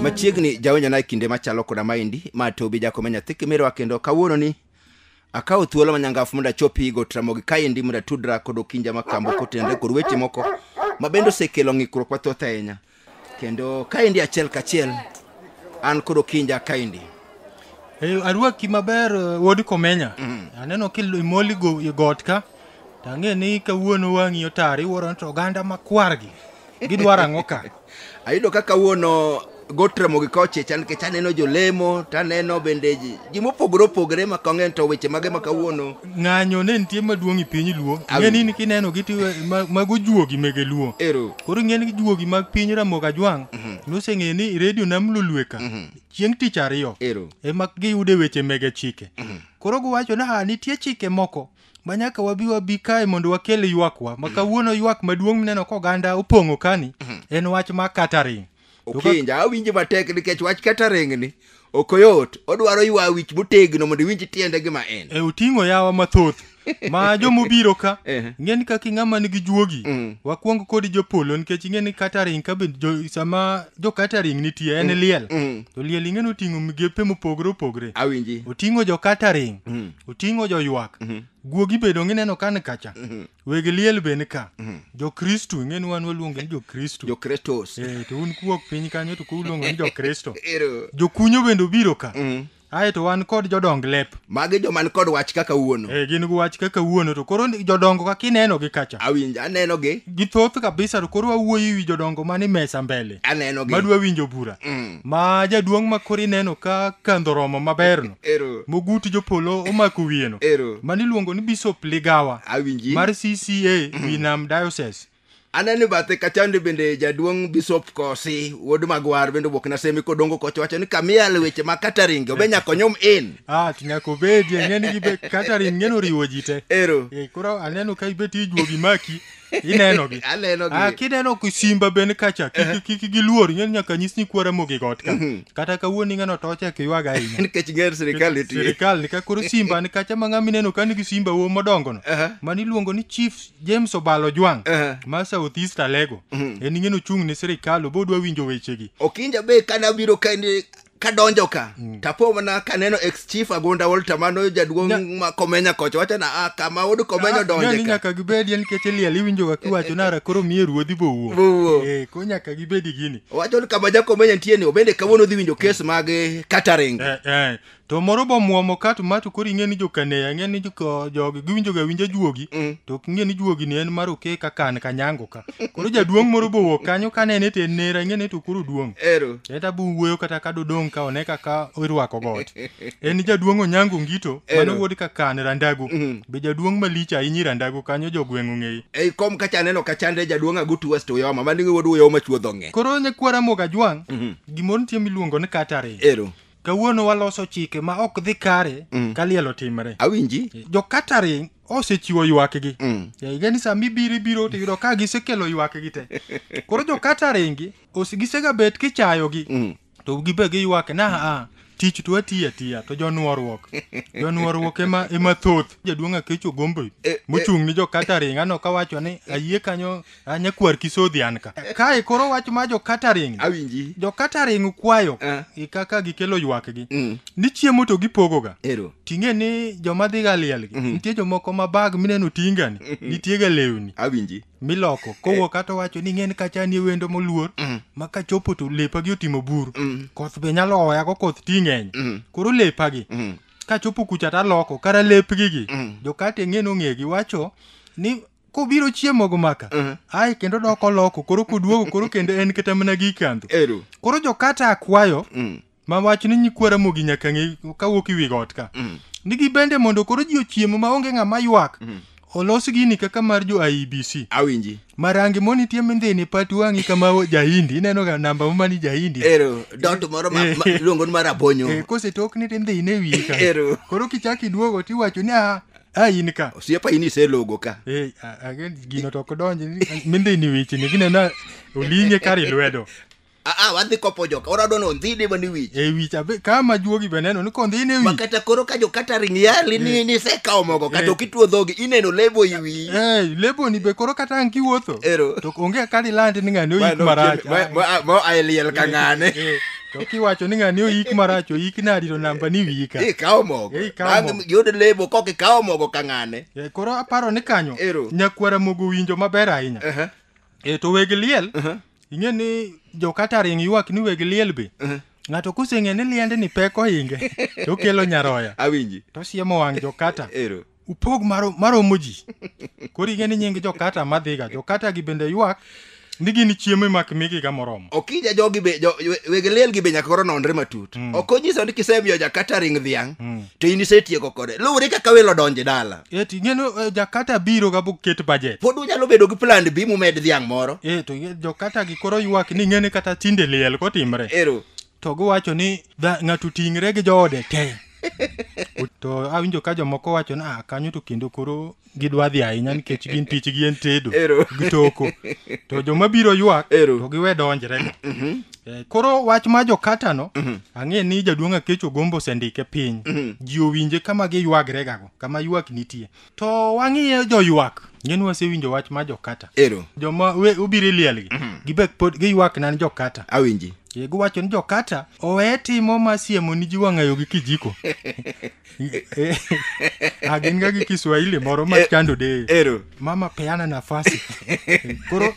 machiegni jawinjana e kinde machalo koda maendi ma tobi jakome nyathi kimirwa kendo kawuononi akawo thuolo manyangafu mondo achopi go tramogi kaendi mondo atudra kod okinja makambo kotenore kod weche moko ma bende osekelo ng'ikruok mathoth ahinya kendo kaendi achiel kachiel an kod okinja kaendi Eh, arwaki maber eh, wuod komenya aneno kimoli e got ka to ang'e ni kawuono wang'i otar iwuoro ni to oganda makwargi gidwaro ang'o ka ayudo ka kawuono got ramogi ka ochicha nikech aneno jolemo to aneno bende ji ji mopogore opogore ma kong'e to weche mage ma kawuono ng'anyo ne nitie maduong' e piny luo Awinjo. ng'eni ni kineno gi tiwe ma- mago juogi mege luo Ero. koro ng'eni juogi mag piny ramoga jwang' noseng'e ni redio nam lulweka chieng' tich ariyo Ero. ema giyude weche mege chike koro giwacho ni ha nitie chike moko ma nyaka wabi wabi kae mondo wakel ywakwa ma kawuono ywak maduong' mineno koganda opong'o kani en wach ma catering okinja awinje matek nikech wach catering ni ok oyot odwaro ywa wich motegno mondo iwinj tiende gima en e oting'o yawa mathoth ma jomobiro ka Eh. ing'eni kaka ing'ama nigi juogi Mm. wakwong kod jopolo nikech ing'eni catering ka bende jo- sama jo catering nitie en liel Mm. to liel ing'eni oting'o migepe mopogore opogore awinji oting'o jo catering Mm. oting'o joywak Mhm. guogi bedo ng'ineno kan kacha Mhm. weg liel be nika mm. jokristu ing'e ni wan waluonge ni jokristu jokretos e, to un kuok piny kanyo to kuluongo ni jokristo jokunyo bende obiro ka mm. ae to wan kod jodong lep magi joman kod wach kaka wuono e, gin gi wach kaka wuono to koro jodongo ka kineno gi kacha awinjo aneno gi githoth kabisa to koro wawuoyo wi jodongo mani mesa mbele aneno gi madwa winjo bura mm. ma jaduong' ma koro ineno ka kandho romo maberno Ero. mogut jopolo omako wiyeno Ero. mane iluongo ni bishop ligawa Awinji. mar cca winam diocese aneno bathe kachande bende jaduong' bishop kosi wuod magwar bende obok nasemi kodongo koch wacho ni kamiel weche ma kataringe obe nyaka onyum in ah to nyaka obedie ng'eni gibe katarin ng'eno riwo ji te ero Eh, koro aneno ka ibet ijuogi maki ineno gi aneno gi Ah, kineno ku simba ben kacha kik- kik kik giluor ing'e ni nyaka nyis ni kwara mogi got ka kata kawuono ing'eno to ochek ywag ahinya nikech ng'er sirikal nitie sirikal ni ka koro simba ni kacha ma ng'ama ineno ka nigi simba wo modongono Aha. mani iluongo ni chief james obalo jwang Aha. ma south east alego en ing'eno ochung' ne sirikal obo odwa winjo wechegi okinja be kane abiro kae ni kadonjo ka mm. tapo mana kaneno ex chief agonda wolta mano jaduong' ma komenya kocha wacha na ah, kama wuod komenya ah, donje ka nyaka gibedi en keche liel iwinjo ga kiwacho nara koro miye ruodhi bo wuo wuo eh ko nyaka gibedi gini wacho ni kama jakomenya nitie ni obende kawuono dhi winjo kes mag eh, catering eh, eh. to moro bo muomo ka to mato koro ing'e ni jokaneya ing'e ni jogi giwinjo ga winja juogi mm. to ok ing'e ni juogi ni en mar okeka kan kanyango ka koro jaduong' moro bowuok kanyo ka nene to en nera ing'e ni to koro duong' ero en ta buwuoyo kata ka dodong' ka one kaka irwako got en jaduong' onyango ngito Ero. mano wuod kakan randago Mhm. be jaduong' malich ahinya i randago kanyo jogweng' ong'eyi ei kom kacha aneno kachande jaduong' agutu west uyoma mani wuod uyoma chuodho ng'e koro nyakwara moga jwang' Mhm. gimoro nitie miluongo ni katari ero kawuono waloso chike ma ok dhi kare Mhm. ka liel otimre awinji jo katari osechiwo ywakgi mm. igeni ni sama ibiro ibiro to yudo ka gisekelo ywakgi te koro jo kataringi gisega bet kichayogi mm. to gibe giywake na a tich to atiyo atiya to jonuoruok jonuoruok ema ema thoth jaduong' akecho gombo e, e. mochung' ni jo kataringa no kawacho ni ayie kanyo Ah, nyakwar kisodhi an ka kae koro wach ma jokataring awinji jokataring kwayo Ah. gi kaka gikelo ywakgi Mm. ni chiemo to gipogoga ero ting'e ni joma dhiga lielgi nitie jomoko ma bag mineno tingani nitiega lewni awinji miloko kowuok kata wacho ni ng'en kacha ni wendo moluor ma kachopo to lepagi otimo buru koth be nyalo oyago koth ti ng'eny koro lepagi kachopo kucha taloko kara lepgigi jokate ng'en ong'egi wacho ni kobiro chiemogo maka Mhm. ae kendo dok oloko koro koduogo koro kendo en kata mana gi kandho Ero. koro jokata akwayo Mm. ma wach ni nyikwara mogi nyaka ng'e kawuok iwi got ka Mm. nigi bende mondo koro ji ochiemo maonge ng'ama ywak Mm. olos gini kaka mar jo IEBC Awinji. marangi moni tie mindhini pat wang'i kama o- jahindi ineno ga namba ma mani jahindi Ero. Dot moro ma, ma luongo ni mar abonyo. Eh, kosetokni to indhine wiye ka Ero. koro kichak iduogo tiwacho ni ah a in ka osiepa in iselogo ka Eh, a- a- gino to ok donji ni- minde ni wechni gineno oling'e kar i lwedo aa wadhi kopo joka orado no ndhi dima ni wich e wich abe ka ma juogi be neno ni kondhine e wich makata koro ka jokata ring yali ni nisekawo mogo kata ok ituo dhogi ineno lebo i wiyi Eh, leboni be koro kata ang' kiwuotho Ero. to onge kar ilandi ni ng'ani oyik marach Ma- ma- ma- ma- aeliel ka ng'ane Eh, to kiwacho ni ng'ani oyik marach oyik nadi to namba ni wiyi ka ikawo mogo Eh, ikawo Bang' mogo. yud lebo kok ikawo mogo ka ng'ane Eh, koro aparo ni kanyo Ero. nyakwara mogo winjo maber ahinya Aha, e to weg liel aha, ing'e ni jokata ring ywak ni weg liel be aha. ng'ato koseng'e ni liende ni pek ohinge to okelo nyaroya awinji to siemo wang' jokata ero upog maro- maromo ji koro ing'e ni nying jokata madhiga jokata gi bende ywak ni gin chiemo imak migiga moromo okija jogi be jo, we- weg liel gi be nyaka koro nonre matut mm. ok onyiso ni kisemiyo jakata ring dhiang mm. to in isetieko kode luwore kaka welo donje dala eti ing'eno eh, jakata biro ga boket bajet pod unyalo bedo gi plan bi mumed dhiang moro e to ing'e- jokata gi koro ywak ni ing'e ni kata tinde liel kotimre ero to giwacho ni dha- ng'ato ting're gi joode te to awinjo ka jomoko wacho ni "Ah, kanyo to kendo koro gidwa dhi ahinya nikech gin tichgi en tedo Ero. gi toko to joma biro ywak Ero. to giwe donjre Eh, koro wach ma jokatano ang'e ni jaduong' akecho gombo osendike piny ji owinje kama giywagregago kama ywak nitie to wang'iye joywak ngeni wasewinjo wach ma jokata ero joma we- obiro e lielgi gibek pod giywak nan jokata awinji Ye, giwacho ni jokata owe timo ma siemo ni ji wang'ayo gi kijiko Eh, ah, gin ga gi kiswahili moro ma chando de ero mama peana nafasi koro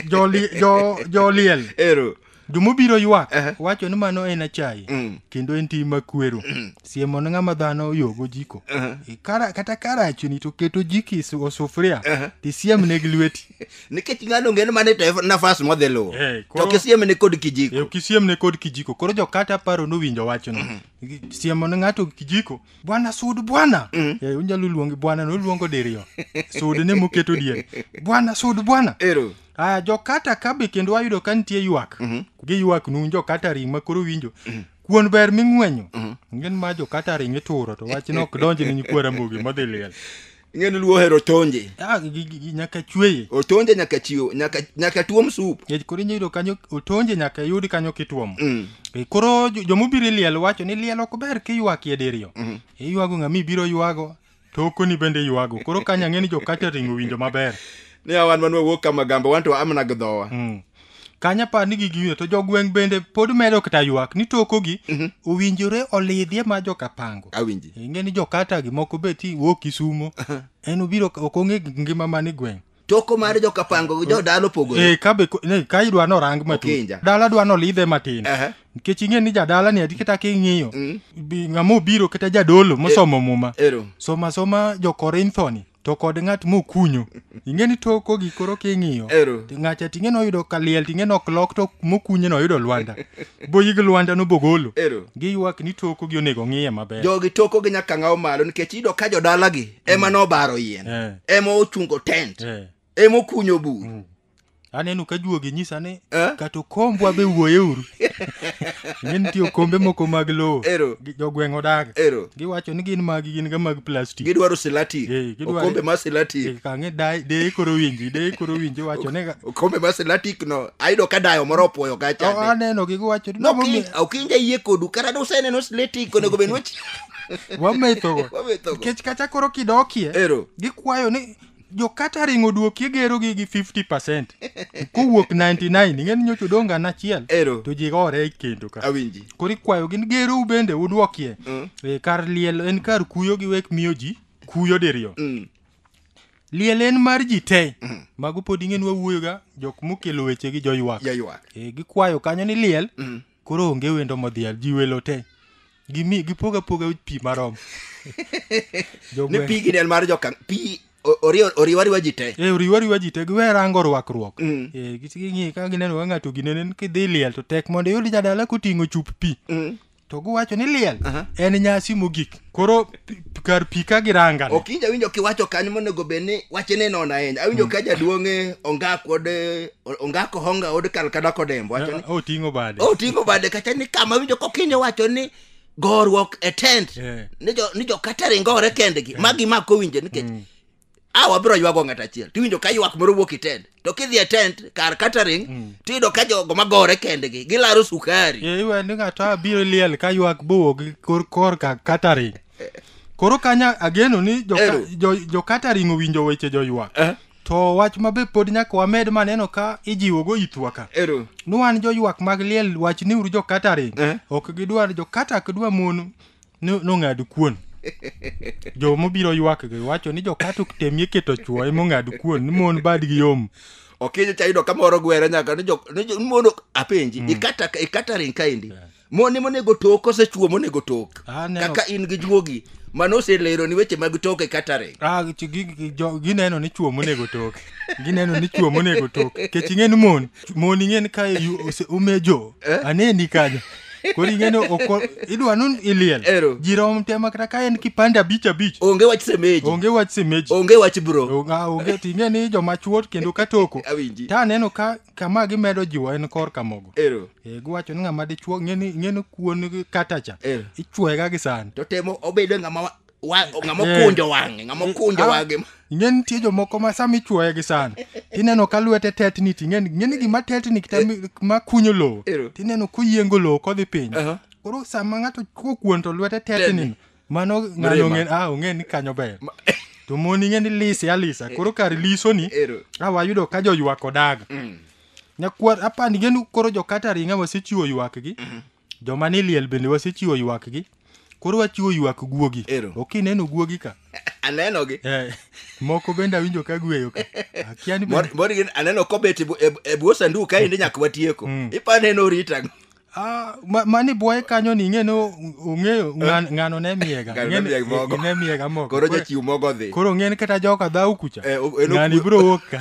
joli- jo- joliel ero jomobiro ywak Ehe. wacho ni mano en achaye Mm. kendo en tim makwero siemo ne ng'ama dhano oyogo jiko E, kara- kata karachni to keto jiki su- o sufuria tisiem ne gi lweti nikech ng'ano ng'en mane to e nafas modhi luwo Eh, to koro- kisiemene kod E, kijiko kisiem ne kod kijiko koro jokata paro nowinjo wachno Gi- siemo ne ng'ato kijiko bwana sud bwana E, unyalo luonge bwana noluongo diriyo sud ne moketo diere bwana sud bwana ero aya jokata ka be kendo wayudo ka nitie ywak mm -hmm. gi ywak nun jokata ring ma koro winjo mm -hmm. kuon ber ming'wenyo mm -hmm. ng'en ma jokata ring ituro to wach ne ok donji ni nyikwa ramogi modhi liel ng'en luo ohero tonje ah, nyaka chweye otonje nyaka chiwo nyaka, nyaka tuom sup e, koro inya yudo kanyo otonje nyaka yud kanyo kituomo mm. e, koro jomobiro liel wacho ni liel ok ber kiywakie diriyo mm -hmm. iywago ng'ama ibiro ywago Tokoni bende ywago. Koro kanya ng'e ni jo catering owinjo maber. Ni awan man wawuok kama gamba wan to amna gdhowa. Mm. Kanya par ni gigi winjo to jogweng' bende pod medo kata ywak ni tokogi mhm. owinjore olidhie ma joka pango. Awinji. Ing'e ni jokata gi moko beti wuok Kisumo. En obiro ok ong'e ngima mani gweng'. toko mar jokapango gi jodala opogore Eh, ka be ko- ne, ka idwa norang matut Okinja. dala dwa nolidhe matin Aha. nikech ing'e ni jadala ni adi kata king'iyo bi- ng'ama obiro kata jadolo mosomo muma ero soma soma jokorintho ni to kod ng'at mokunyo ing'e ni toko gi koro king'iyo Ero. Ti- ng'acha ting'e noyudo kaliel ting'e nok lok to mokunye noyudo lwanda boyig lwanda nobogolo Ero. giywak ni toko gi onego ng'iye maber jogi toko gi nyaka ngawo malo nikech iyudo ka jodalagi ema nobaro yien Eh. ema ochungo tent Eh. ema okunyo bur aneno ka juogi nyisa ni Eh? kata okombwa be wuoyeuru ing'e nitie okombe moko mag lowo Ero. gi- jogweng' odaga Ero. giwacho ni gin magi gin ga mag plastik gidwaro silati Eh, gidwaro- okombe ma silati Eh, kang'e daye- deye koro winji deye koro winji wacho ni ga- okombe ma silatik no ayudo ka dayo moro opoyo O- kacha aneno gi giwacho ni- nokinja yie kodu kata duseneno silatik onego bed ni wach- wamethogo Wamethogo. nikech kata koro kidokie Ero. gikwayo ni jokata ringo duoki igerogi gi 50 percent kowuok 99 ing'eni nyocha odong' gana achiel Ero. to ji gore e kendo ka Awinji. koro ikwayo gin gerou bende udwokie Mm. e, kar liel en kar kuyo gi wek miyo ji kuyo diriyo Mm. liel en mar ji te mago pod ing'eni wawuoyoga jok mokelo weche gi joywak Jaywak. e, gikwayo kanyo ni liel Mm. Koro onge wendo modhial, ji welo te. Gimi, gipoga poga pi marom. ne pi gi del mar joka pi oriwa riwa ji te e oriwa riwa ji te giwe rango rwakruok mm. e ging'i ka gineno ka ng'ato ginenen kidhi liel to tek mondo iyud jadala koting'o chup pi mm. to giwacho ni liel en nyasi mogik koro pi- kar pi ka girangane ok inja winjo kiwacho kanyo monego bed ni wache ne nono ahinya awinjo ka jaduong'e ongak kod eh, ongako honga od kalkada kodembo wacho ni oting'o bade oting'o bade kacha ni kama winjo kokinyo wacho ni goruok e tent Eh. ni jo- ni jokatering gore kendgi ma gimako winje nikech a wabiro ywago ng'at achiel tiwinjo ka ywak moro wuok e tent to kidhi e tent kar catering mm. tiyudo ka jogo magore kendgi gilaro sukari e, iwe ni ng'ato abiro liel ka ywak bowuok kor kor ka catering koro kanya ageno ni jo catering owinjo weche jo ywak eh? to wach mabe pod nyaka wamed maneno ka ijiwogo ithwa ka ni wan joywak mag liel wach ni uru jo catering eh? ok gidwar jo kata ok dwa mon No- nong'ad kuon jo mobiro ywak gi wacho ni jokato temie keto chwo emong'ad kuon ni mon badgi yom okinyo cha yudo kamoro gwere nyaka ni jo ni jo- mondo apenji ikata ikata ring kaendi moni monego tok kose chuo monego tok Ah, neno. kaka in gi juogi mano oselero ni weche mag tok e katering Ah, gi- gi- gi- jo- gineno ni chwo monego tok gineno ni chwo monego tok kech ing'e ni mon moni ng'en ka yu- ose- umejo Eh? aneni kanyo koro ing'eno oko idwa nun iliel Ero. ji rom tema kata ka en kipande abich abich onge wach semeji onge wach semeji onge wach bro Onge- ah, onge to ing'e ni joma chuot kendo ka toko awinji ta aneno ka kama gimedo jiwo en kor kamogo ero Eh, giwacho ni ng'ama dichuo ng'eni ng'eni kuon katacha Eh. ichuega gi sand to temo obedo ng'ama wa- Wa- ng'ama okunjo wang'e ng'ama okunjo Ah, wang'e ing'e nitie jomoko ma sama ichuoye gi sand tineno ka lwete tetni to ing'e ni- ing'e ni gima tetni kata mi- ma kunyo lowo Ero. tineno koyiengo lowo kodhi piny Aha. koro sama ng'ato chuo kuon to lwete tetni mano ng'ano Mrima. ong'e ah, ong'e ni kanyo ber to mon ing'e ni lise alisa koro kar lisoni Ero. a wayudo ka joywak odaga nyakwar apani genu koro jokata ringa wasechiwo ywakgi joma ni liel bende wasechiwo ywakgi koro wachiwo ywak guogi Ero. ok ineno guogi ka anenogi Eh, moko bende awinjo ka gweyo ka akia ni bende- Mor- mor gin- aneno kobet e bu- e bu- e bwo sandu kaendi nyaka watieko ipane ni orita Ah, ma- mani bwoye kanyo ni ing'e ni o- ong'eyo ng'an- ng'ano ne miyega Ng'ano ne Ing'e ni- miyega mogo. ne miyega mogo koro Koro- jachiw mogo odhi koro ng'e ni kata joka dhau kucha Eh, o- en ng'ani okwe- biro wuok ka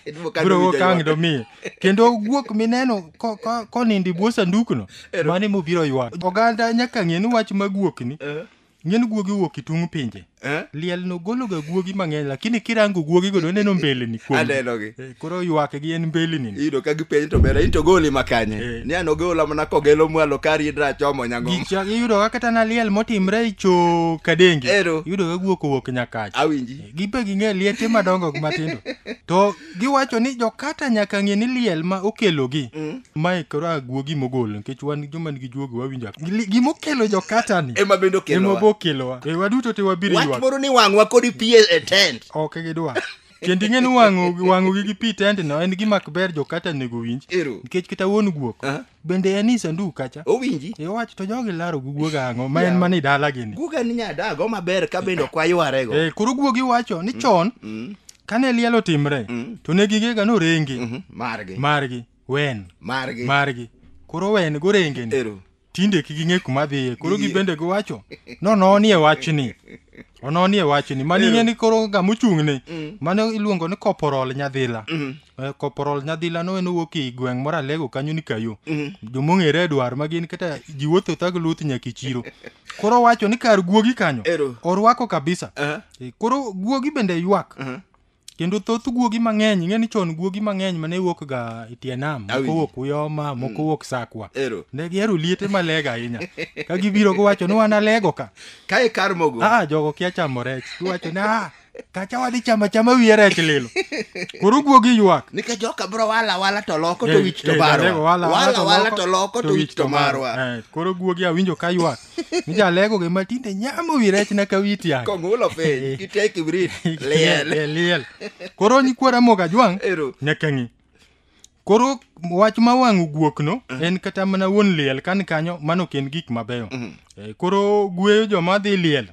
Iduwo ka biro wuok nowinjo ka ang' ywak. domiye kendo guok mineno ko- ko- konindo e bwo sandukno Ero. mane mobiro ywak oganda nyaka ng'e ni wach ma guokni Eh? ng'en guogi wuok e tung' pinje Eh? liel no gologa guogi mang'eny lakini kirango guogi go doneno mbeleni kuom Anenogi. Eh, koro ywakgi en mbeleni iyudo ka gipenjo to bera in to goli makanye Eh. ni an ogola mana kogelo mwalo kari idra chomo nyango Gicha- iyudo ka kata na liel motimre e cho kadenge Ero. iyudo ka guok owuok nyakacha awinji gibe ging'e liete madongo gi matindo to Giwacho ni jokata nyaka ng'e ni liel ma okelogi. Mm. Mae koro aguogi mogol nikech wan joma nigi juogi wawinjo. Gima okelo jokata ni. Ema bende okelowa. Ema bokelowa. E waduto te wabiro ywak. Wach moro ni wang'wa kodi pi e tent. Ok gidwa. Kendo ing'e ni wang'o wang'o gi pi tent no en gima ok ber jokata nego winj. Nikech kata wuon guok. bende en i sanduk kacha owinji iwach to jogi laro guguoga ang'o ma en mana i dala gini guga ni nyadago maber ka bende ok waywarego Eh, koro guogi wacho ni chon kane liel otimre to ne gigega norengi Mhm, margi margi wen margi margi koro wen gorengeni ero tinde kik ging'e kuma dhiye koro Ging'e. gibende giwacho nononie wachni ononie wachni mani Ero. ng'e ni koro ng'ama ochung'ne mano iluongo ni koporol nyadhila Eh, Corporal Nyadhila no en owuok e gweng' moro Alego kanyo ni kayo. Jomong'ere e dwar ma gin kata ji wuotho thag luth nyaka e chiro. Koro wacho ni kar guogi kanyo. Ero. Orwako kabisa. Aha. Eh, Koro guogi bende ywak. Aha. Kendo thoth guogi mang'eny, ing'e ni chon guogi mang'eny mane wuok ga e tie nam, moko Awinjo. wuok Uyoma, moko wuok Sakwa. Ero. Ne gihero liete malega ahinya. Ka gibiro giwacho ni wan Alego ka. Kae kar mogo. Ah, jogo kia chamo rech. Giwacho ni ah, kacha wadhi chama chama wiye rech lilo koro guogi ywak nikech joka bro wala wala to loko to Eh, wich to eh, barwa Jalego, wala wala wala to loko to wich to marwa Eh, koro guogi awinjo ka ywak ni jalego gi matinde nyamo wi rech na ka wi tiang kong'ulo piny kite kibrit liel liel liel koro nyikwara moga jwang Ero. nyaka ng'i koro wach ma wang'o guokno en kata mana wuon liel kan kanyo mano ok en gik mabeyo Eh, koro gueyo joma dhi liel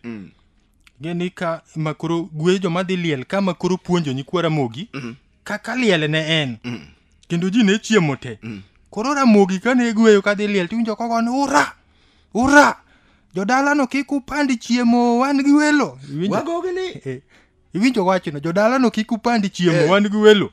gini ka makoro gwe joma dhi liel ka makoro puonjo nyikwa ramogi mm. kaka liel ne en mm. kendo ji ne chiemo te mm. koro ramogi kane gweyo kadhi liel tiwinjo kogo ni ura ura jodalano kik upandi chiemo wan gi welo iwinjo wachno jodalano kik upandi chiemo eh. wan gi welo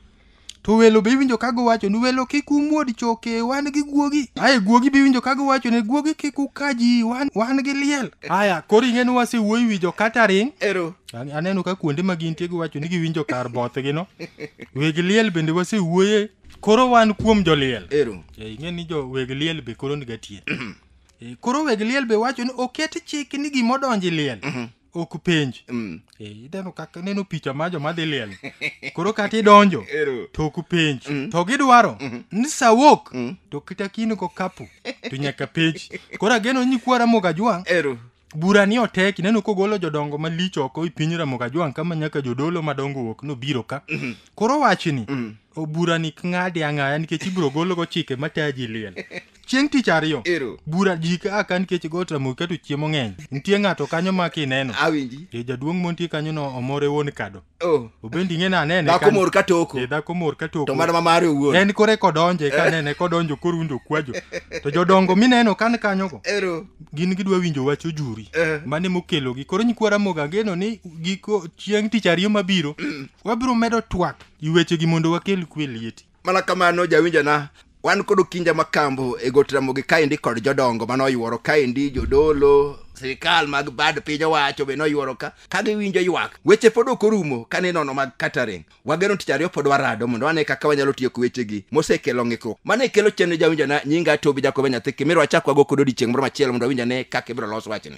To welo be iwinjo ka giwacho ni welo kik umuod choke wan gi guogi. Aye guogi be iwinjo ka giwacho ni guogi kik uka ji wan, wan gi liel. Aya koro ing'e ni wasewuoyo wi jo catering. Ero. An- Aneno ka kuonde ma gintie giwacho ni giwinjo kar bothgi no. Weg liel bende wasewuoye. Koro wan kuom joliel. Ero. Eh, ing'e ni jo weg liel be koro niga tie. Eh, koro weg liel be wacho ni oket chik ni gimodonji liel. ok penj Mm. Eh, ineno kaka ineno picha ma joma dhi liel koro kata idonjo Ero. to ok penj to gidwaro ni sawok to kita kini ko kapu to nyaka penj koro ageno ni kwa ramoga jwang Ero. bura ni otek ineno kogolo jodongo malich oko i piny ramoga jwang kama nyaka jodolo madongo wuok nobiro ka koro wachni o bura ni ng'adi ang'aya nikech ibiro gologo chike mataji liel Chieng' tich ariyo. Ero. Bura ji ka aka nikech got Ramogi keto chiemo ng'eny. Nitie ng'ato kanyo ma kineno. Awinji. E jaduong' montie kanyo no omore wuon kado. Oh. Obendi ng'e na nene. Dhako mor ka toko. E dhako mor ka toko. To mana ma mare owuon. En kore kodonje ka nene kodonjo korunjo kwajo. To jodongo mineno kan kanyo go. Ero. Gin gidwa winjo wach ojuri. Eh. Mane mokelo gi. Koro nyikwa Ramogi ageno ni giko chieng' tich ariyo mabiro. Mm. Wabiro medo twak. Iweche gi mondo wakel kwe lieti. mana kamano jawinjana wan kod okinja makambo e got ramogi kaendi kod jodongo mane oyuoro kaendi jodolo sirikal mag bad piny owacho be noyuoro ka ka giwinjo ywak weche pod ok orumo ka ninono mag catering wageno tich ariyo pod warado mondo wane kaka wanyalo tiyo gi wechegi mosekelo ng'ikruok mane kelo chenro jawinjana nyinga tobi jakobe nyathi kimirwa chak wago kod odiechieng' moro machielo mondo awinjane kaka ibiro los wachni